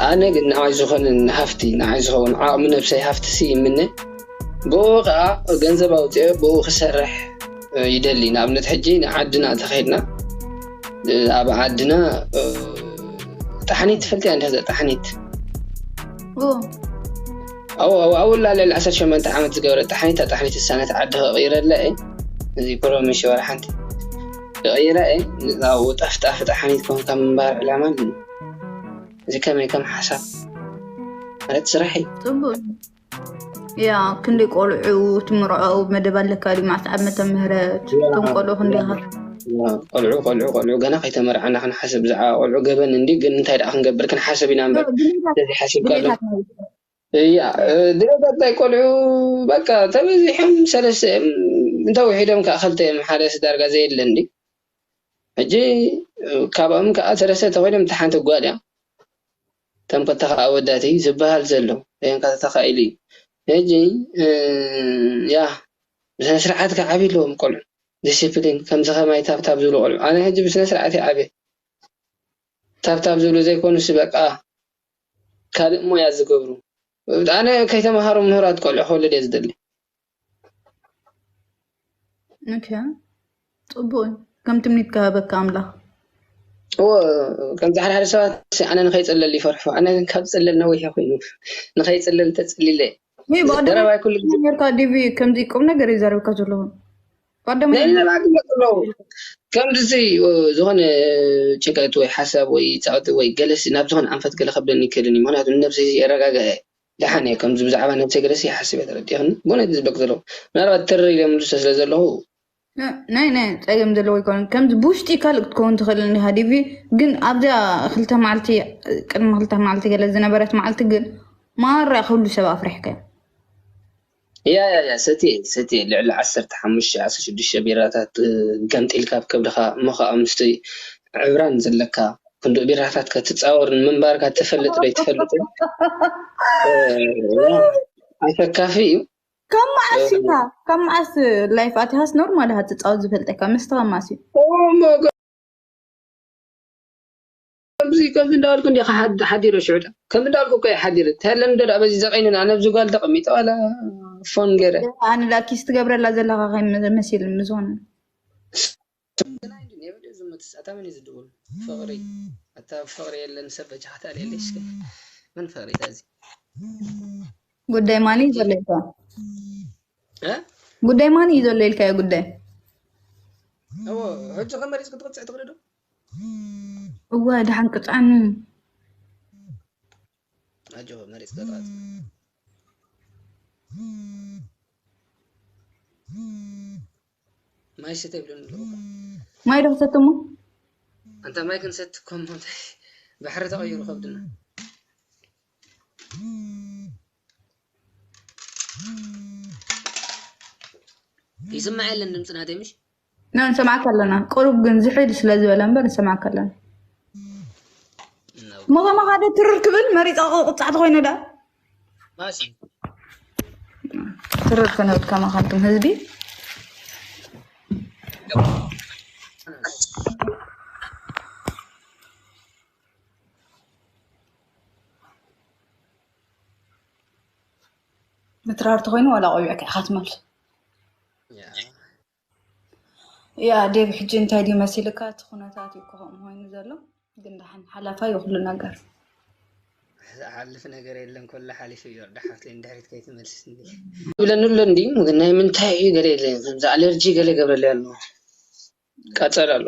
ኣነ ግን ንዓይ ዝኾነ ሃፍቲ ንዓይ ዝኸውን ዓቕሚ ነብሰይ ሃፍቲሲ ይምነ ብኡኡ ከኣ ገንዘብ ኣውጺኤ ብኡ ክሰርሕ ይደሊ ንኣብነት ሕጂ ንዓድና ተኸድና ኣብ ዓድና ጣሕኒት ትፈልጥ እያ እንተዘ ጣሕኒት ኣውላ ልዕሊ ዓሰርተ ሸመንተ ዓመት ዝገበረ ጣሕኒት ኣጣሕኒት እሳነት ዓዲ ከቕይረላ እየ እዚ ፕሮሚ ሽወር ሓንቲ ክቕይራ እየ ንብኡ ጠፍጣፊ ጣሕኒት ኮንካ ምንባር ዕላማ እዚ ከመይ ከም ሓሳብ ማለት ስራሕ እዩ ፅቡቅ ያ ክንደይ ቆልዑ ትምርዖ መደብ ኣለካ ድዩ መዓልቲ ዓመተ ምህረት እቶም ቆልዑ ክንደይ ቆልዑ ቆልዑ ቆልዑ ገና ከይተመርዓና ክንሓስብ ብዛዕባ ቆልዑ ገበን እንዲ ግን እንታይ ደኣ ክንገብር ክንሓስብ ኢና እምበር ስለዚ ሓሲብካ ኣሎ እያ ድረገፀይ ቆልዑ በቃ ተበዚሖም ሰለስተ እዮም እንተውሒዶም ከዓ ክልተ እዮም ሓደስ ዳርጋ ዘየለ እንዲ ሕጂ ካብኦም ከዓ ሰለስተ ተኮይኖም እታ ሓንቲ ጓል እያ እቶም ክልተ ከዓ ኣወዳት እዩ ዝበሃል ዘሎ ኮንካ ተተካኢሉ እዩ ሕጂ ያ ብስነ ስርዓት ከዓ ዓብይ ኣለዎም ቆልዑ ዲሲፕሊን ከምዚ ከማይ ታብታብ ዝብሉ ቆልዑ ኣነ ሕጂ ብስነ ስርዓት ይዓበ ታብታብ ዝብሉ ዘይኮኑስ በቃ ካልእ ሞያ ዝገብሩ። ኣነ ከይተማሃሩ ምሁራት ቆልዑ ክወልድ እየ ዝደሊ። ኦኬ ጽቡቅ እዩ ከም ትምኒት ክሃበካ ኣምላኽ እዎ ከምዚ ሓደ ሓደ ሰባት ኣነ ንኸይጽለል ይፈርሑ ኣነ ግን ካብ ጽለል ነዊሕ እየ ኮይኑ ንኸይጽለል ተጽሊለ እየ ወይ ብቀደም ዘረባይ ኩሉ ግዜ ኔርካ ዲቪ ከምዚ ቁም ነገር እዩ ዘረብካ ዘለኹ ቀደሙ ናይ ነብዓ ግለፅ ኣለዉ ከምዚ ዝኾነ ጭንቀት ወይ ሓሳብ ወይ ጸቕጢ ወይ ገለሲ ናብ ዝኾነ ኣንፈት ገለ ከብደኒ ይክእልን እዩ ምክንያቱ ንነብሰይ የረጋግኣ እየ ደሓን እየ ከምዚ ብዛዕባ ነብሰይ ገለሲ ይሓስብ እየ ተረዲእክኒ ብእውነት እዚ ዝበክ ዘለኹ ምናልባት ትርር ኢለ ምልሶ ስለ ዘለኹ ናይ ናይ ፀገም ዘለዎ ይኮነ ከምዚ ብውሽጢ ካልእ ክትከውን ትኽእል እንዲኻ ዲቪ ግን ኣብዛ ክልተ መዓልቲ ቅድሚ ክልተ መዓልቲ ገለ ዝነበረት መዓልቲ ግን ማራ ኩሉ ሰብ ኣፍሪሕካ እዩ ያያያ ሰትየ ሰትየ ልዕሊ ዓሰርተ ሓሙሽተ ዓሰርተ ሽዱሽተ ቢራታት ገምጢልካ ኣብ ከብድኻ እሞ ኸኣ ምስቲ ዕብራን ዘለካ ክንድኡ ቢራታት ከትጻወር ምንባርካ ትፈልጥ ዶ ኣይትፈልጥን ኣሰካፊ እዩ ካብ መዓስ ኢኻ ካብ መዓስ ላይፍ ኣቲኻስ ኖርማል ኢኻ ትጻወት ዝፈልጠካ መስተኻ ማስ እዩ ኦ ማይ ጋድ ከምዚ ከምዚ እንዳበልኩ እንዲኻ ሓዲረ ሽዑ ድኣ ከምዚ እንዳበልኩ እኮ እየ ሓዲረ ተለን እንዶ ድኣ በዚ ዘቂኒ ድኣ ነብዚ ጓል ተቀሚጠ ዋላ ፎን ገይረ ኣነ ድኣ ኪስ ትገብረላ ዘለኻ ከይ መሲል ምዞን ዝመትስ ኣታ መን እዩ ዝድውል ፍቅሪ ኣታ ፍቅሪ የለን ሰብ በጃኻ ተኣልየለይ እስከ መን ፍቅሪ እታ እዚ ጉዳይ ማን እዩ ዘሎ ኢልካ እ ጉዳይ ማን እዩ ዘሎ ኢልካዮ ጉዳይ እዎ ሕጂ ከመሪፅ ክትቅፅዕ ትኽእሊ ዶ እወ ደሓን ቅጫን ኣጆ መሪፅ ገጠራት ማይ ስተ ይብለን ኣለኹ ማይ ዶ ክሰትሞ ኣንታ ማይ ክንሰቲ ኮሞ ባሕሪ ተቐይሩ ከብድና ይስማዕ የለን ድምፂ ናተይ ምሽ ንሰማዕካ ኣለና ቅሩብ ግን ዝሕል ስለ ዝበለ እምበር ንሰማዕካ ኣለና እሞ ከማኻ ዶ ትርር ክብል መሪፀ ቁፃዕቲ ኮይኑ ዳ ትርር ክንብል ከማኻ ንቱም ህዝቢ ምትራር ተኮይኑ ዋላ ቆቢዕካ ኢካ ትመልሶ ያ ዴቭ ሕጂ እንታይ ድዩ መሲልካ እቲ ኩነታት እዩ እኮ ከምኡ ኮይኑ ዘሎ ግን ደሓን ሓላፋ እዩ ኩሉ ነገር ዝሓልፍ ነገር የለን ኮላ ሓሊፉ እዩ ወርዳ ሓፍተይ ንድሕሪት ከይትመልስኒ ይብለኒ ኣሎ እንዲ ግን ናይ ምንታይ እዩ ገለ የለ ከምዚ ኣለርጂ ገለ ገብረለይ ኣሎ ቃፀል ኣሎ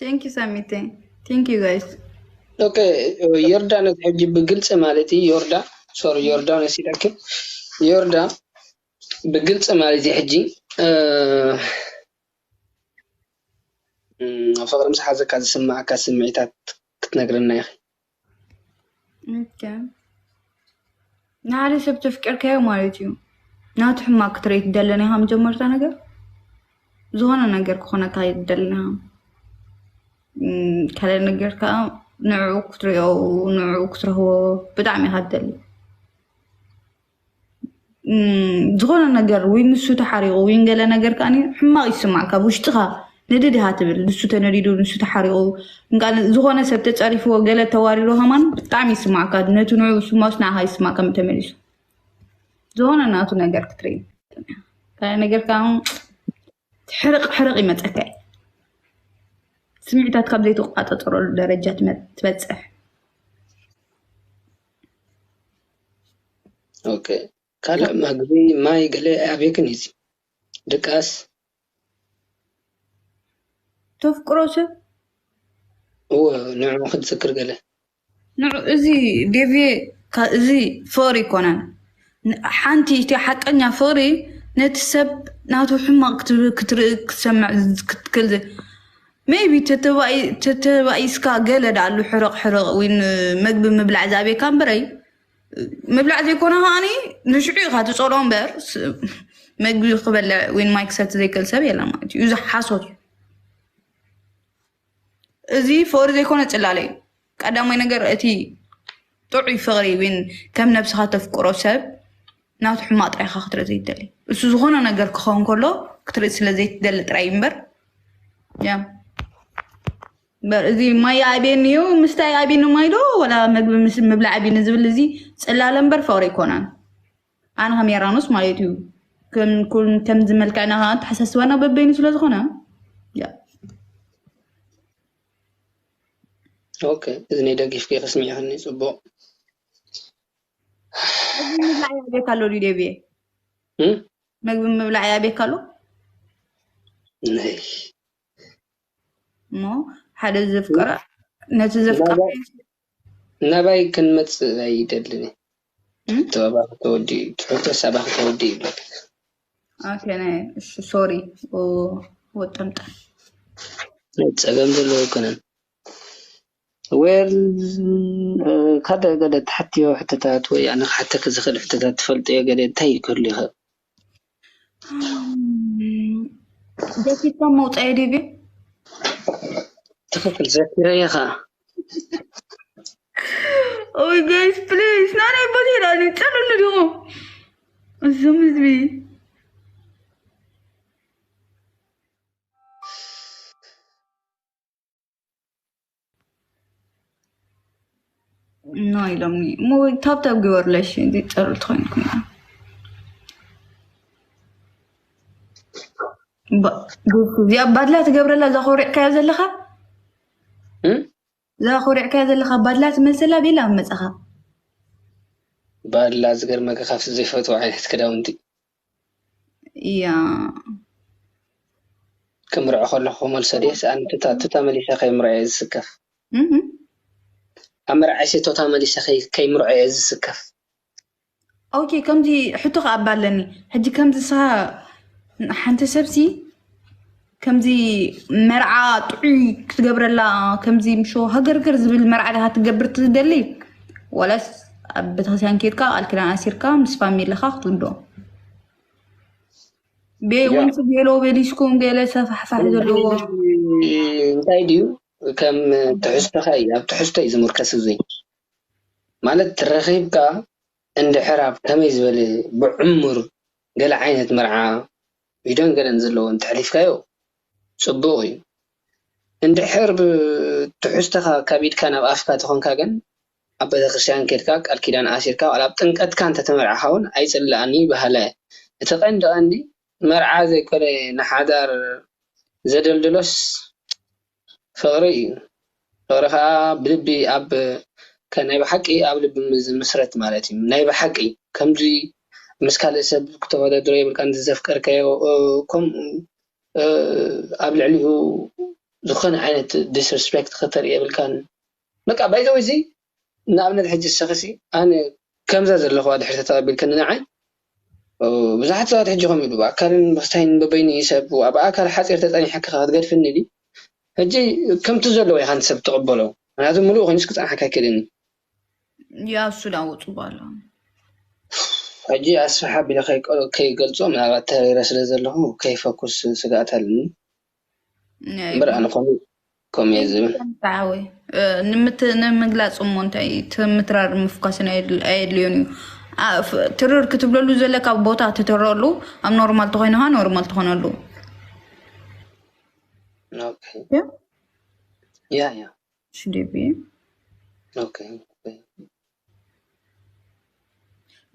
ቴንኪ ሳሚተ ቴንኪ ጋይስ ኦከ ዮርዳኖስ ሕጂ ብግልጺ ማለት እዩ ዮርዳ ሶሪ ዮርዳኖስ ኢለኪ ዮርዳ ብግልጺ ማለት እዩ ሕጂ ፍቅሪ ምስ ሓዘካ ዝስመዓካ ስምዒታት ክትነግረና ኢኪ። ንሓደ ሰብ ተፍቅርካዮ ማለት እዩ ናቱ ሕማቅ ክትርኢ ትደሊ ኔኻ መጀመርታ ነገር ዝኾነ ነገር ክኾነካ ኣይትደልን ኢኻ ካልኣይ ነገር ከዓ ንዕኡ ክትሪኦ ንዕኡ ክትረኽቦ ብጣዕሚ ኢኻ ትደሊ። ዝኮነ ነገር ወይ ንሱ ተሓሪቁ ወይ ገለ ነገር ከኣ ሕማቅ ይስማዓካ ኣብ ውሽጥካ ንድድ እካ ትብል ንሱ ተነዲዱ ንሱ ተሓሪቁ ዝኮነ ሰብ ተጸሪፍዎ ገለ ተዋሪዱ ከማን ብጣዕሚ ይስማዓካ ነቲ ንዕኡ ዝስምዖስ ንዓካ ይስማዓካ ተመሊሱ ዝኮነ ናቱ ነገር ክትርኢ ካልእ ነገር ከኣ ሕርቕ ሕርቕ ይመፀካ እዩ ስምዒታት ካብ ዘይተቋጠጠረሉ ደረጃ ትበፅሕ ኦኬ ካልእ መግቢ ማይ ገለ ኣብየክን እዩ ድቃስ ተፍቅሮ ሰብ እወ ንዕኡ ክትዝክር ገለ ንዑ እዚ ዴቭየ ካ እዚ ፈሪ ኣይኮነን ሓንቲ እቲ ሓቀኛ ፈሪ ነቲ ሰብ ናቱ ሕማቅ ክትርኢ ክትሰምዕ ክትክል ዘይ ሜይቢ ተተባኢስካ ገለ ዳኣሉ ሕርቅ ሕርቅ ወይ መግቢ ምብላዕ ዝኣብየካ እምበረይ ምብላዕ ዘይኮነ ከዓኒ ንሽዑ ኢካ ትጸልኦ እምበር መግቢ ክበልዕ ወይ ማይ ክሰቲ ዘይክእል ሰብ የለን ማለት እዩ እዚ ሓሶት እዩ። እዚ ፍቕሪ ዘይኮነ ፅላለ እዩ። ቀዳማይ ነገር እቲ ጥዑይ ፍቕሪ ዊን ከም ነብስኻ ተፍቅሮ ሰብ ናቱ ሕማቕ ጥራይ ኢኻ ክትርኢ ዘይትደሊ እሱ ዝኾነ ነገር ክኸውን ከሎ ክትርኢ ስለ ዘይትደሊ ጥራይ እዩ እምበር ያ እምበር እዚ ማይ ይኣብየኒ እዩ ምስታይ ይኣብየኒ ማይ ዶ ወላ ምግቢ ምስ ምብላዕ ኣብየኒ ዝብል እዚ ፅላለ እምበር ፍቕሪ ኣይኮነን። ኣነ ከም የራኖስ ማለት እዩ ከምዚ መልክዕና ከዓ ተሓሳስባና በበይኑ ስለዝኾነ ኦኬ እዝኒ ደጊፍኪ ክስሚዕክኒ ፅቡቅ ምግቢ ምብላዕ ያቤካ ኣሎ ድዩ ደብየ ምግቢ ምብላዕ ያቤካ ኣሎ ነይ እሞ ሓደ ዘፍቀራ ነቲ ዘፍቀራ ናባይ ክንመፅእ ኣይደልን ትሕቶ ኣባኺ ተወዲ እዩ ትሕቶስ ኣባኺ ተወዲ እዩ ይብለካ ኦኬ ናይ እሺ ሶሪ ወጠምጣ ናይ ፀገም ዘለዎ ኣይኮነን ዌል ካደ ገለ ትሓትዮ ሕቶታት ወይ ኣነ ክሓተኪ ዝኽእል ሕቶታት ትፈልጥዮ ገለ እንታይ እዩ ክህሉ ይኽእል? ደፊርካ ምውጻእ እዩ ድዩ? ትኽክል ዘኪረየ ኸኣ ኦይ ጋይስ ፕሊስ ናናይ ቦቴ ዳኒ ጸልሉ ዲኹም እዞም ህዝቢ ኖ ኢሎም እሞ ታብታብ ግበርለሽ ጨር ትኮይንኩም እዚኣ ባድላ ትገብረላ እዛ ኮሪዕካዮ ዘለካ እዛ ኮሪዕካዮ ዘለካ ባድላ ትመስላ ቤላ ኣብ መፅኻ ባድላ ዝገርመካ ካብቲ ዘይፈትዎ ዓይነት ክዳውንቲ እያ። ክምርዖ ከለኩ ክመልሶ ድየ ሳኣን ቱታ ቱታ መሊሰ ከይምርዖ እየ ዝስከፍ ኣብ መርዓይሲ ቶታ መሊሰ ከይምርዖ እየ ዝስከፍ። ኦኬ ከምዚ ሕቶ ከኣ እባ ኣለኒ ሕጂ ከምዚ ንስካ ሓንቲ ሰብሲ ከምዚ መርዓ ጥዑይ ክትገብረላ ከምዚ ምሾ ሃገርግር ዝብል መርዓ ዲካ ክትገብር ትደሊ ዋላስ ኣብ ቤተክርስትያን ከይድካ ቃል ኪዳን ኣሲርካ ምስ ፋሚለካ ክትውልዶ ቤወንስ ቤሎ ቤሊስኩም ገለ ሰፋሕፋሕ ዘለዎ እንታይ ድዩ ከም ትሕዝቶኻ እዩ ኣብ ትሕዝቶ እዩ ዝምርከስ እዙይ ማለት ረኺብካ እንድሕር ኣብ ከመይ ዝበለ ብዕሙር ገለ ዓይነት መርዓ ቪድዮን ገለን ዘለዎ እንተሕሊፍካዮ ጽቡቕ እዩ። እንድሕር ትሕዝቶኻ ካብ ኢድካ ናብ ኣፍካ ተኾንካ ግን ኣብ ቤተክርስትያን ኬድካ ቃል ኪዳን ኣሲርካ ዋላ ኣብ ጥምቀትካ እንተተመርዓኻ ውን ኣይጽላእን እዩ በሃላይ እየ። እቲ ቀንዲ ቀንዲ መርዓ ዘይኮነ ንሓዳር ዘደልድሎስ፣ ፍቕሪ እዩ። ፍቕሪ ከኣ ብልቢ ኣብ ከ ናይ ብሓቂ ኣብ ልቢ ዝምስረት ማለት እዩ። ናይ ብሓቂ ከምዚ ምስ ካልእ ሰብ ክተወዳድሮ የብልካን እዚ ዘፍቀርካዮ ከምኡ ኣብ ልዕሊኡ ዝኾነ ዓይነት ዲስርስፔክት ከተርኢ የብልካን በቃ ባይ ዘ ወይ እዚ ንኣብነት ሕጂ ንስኺሲ ኣነ ከምዛ ዘለኹዋ ድሕሪ ተተቐቢልክኒ ንዓይ ብዙሓት ሰባት ሕጂ ከምኡ ኢሉ ብኣካልን ብኽስታይን በበይኑ እዩ ሰብ ኣብ ኣካል ሓጺር ተጸኒሐኪ ከ ክትገድፍኒ ድዩ ሕጂ ከምቲ ዘለዎ ኢኻ ንሰብ ትቕበሎ ምክንያቱ ምሉእ ኮይኑስ ክጸንሓካ ኣይክእልን እዩ ያው እሱ ላወጡ ባለው ሕጂ ኣስፍሕ ኣቢለ ከይገልጾ ምናልባት ተሪረ ስለ ዘለኹ ከይፈኩስ ስግኣት ኣለኒ እምበር ኣነ ከምኡ ከምኡ እየ ዝብል ተዓወይ ንምግላፅ እሞ እንታይ እዩ? እቲ ምትራር ምፍኳስን ኣየድል- ኣየድልዮን እዩ ኣ- ፍ- ትርር ክትብለሉ ዘለካ ቦታ ትትረሉ ኣብ ኖርማል ተኮይንካ ኖርማል ትኮነሉ ኦኬ እዩ። ያ ያ ሽዴቢ ኦኬ ኦኬ።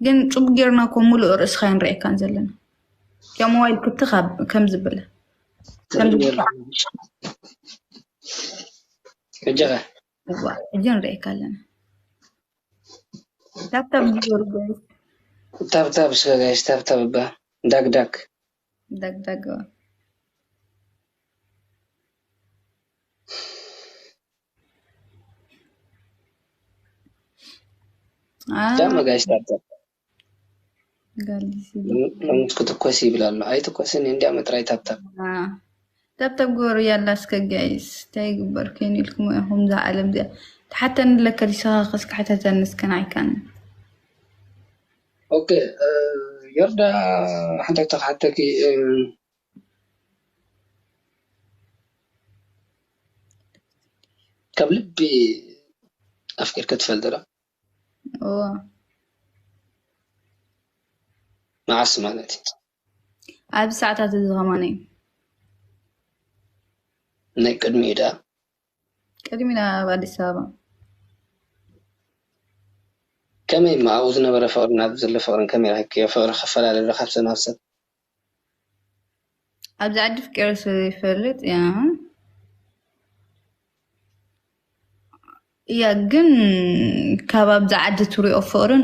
ግን ጩብ ጌርና እኮ ሙሉእ ርእስካ ኣይንሪኤካን ዘለና ያም ሞባይል ክትክ ከምዚ በለ ሕጂ ንሪኤካ ኣለና ታብታብ ግበሩ ጋይስ። ታብታብ እስከ ጋይስ ታብታብ እባ ዳግዳግ። ደግ ደግ በል። ዳማ ጋይስ ታብታ ሎምስ ክትኮስ ይብል ኣሎ ኣይትኮስን እንዲያ መጥራይ ታብታብ ታብታብ ግበሩ ያላ እስከ ጋይስ እንታይ ይግበር ኮይኑ ኢልኩም ኢኹም እዛ ዓለም እዚኣ ተሓተኒ ለከ ዲስኻ ከስካሕተተኒ እስከ ናይካን ኦኬ ዮርዳ ሓንቲ ሕቶ ክሓተኪ ካብ ልቢ ኣፍቂርኪ ትፈልጢ ዶ እዎ መዓስ ማለት እዩ ኣብዚ ሰዓታት እዚ ከማን እዩ ናይ ቅድሚኡ ድኣ ቅድሚ ናብ ኣዲስ ኣበባ። ከመይ እሞ ኣብኡ ዝነበረ ፍቅርን ኣብዚ ዘሎ ፍቅርን ከመይ ረኪብክዮ ፍቅሪ ክፈላለ ዶ ካብ ሰብ ናብ ሰብ። ኣብዚ ዓዲ ፍቂረ ስለ ዘይፈልጥ እያ ግን ካብ ኣብዚ ዓዲ ትሪኦ ፍቅርን።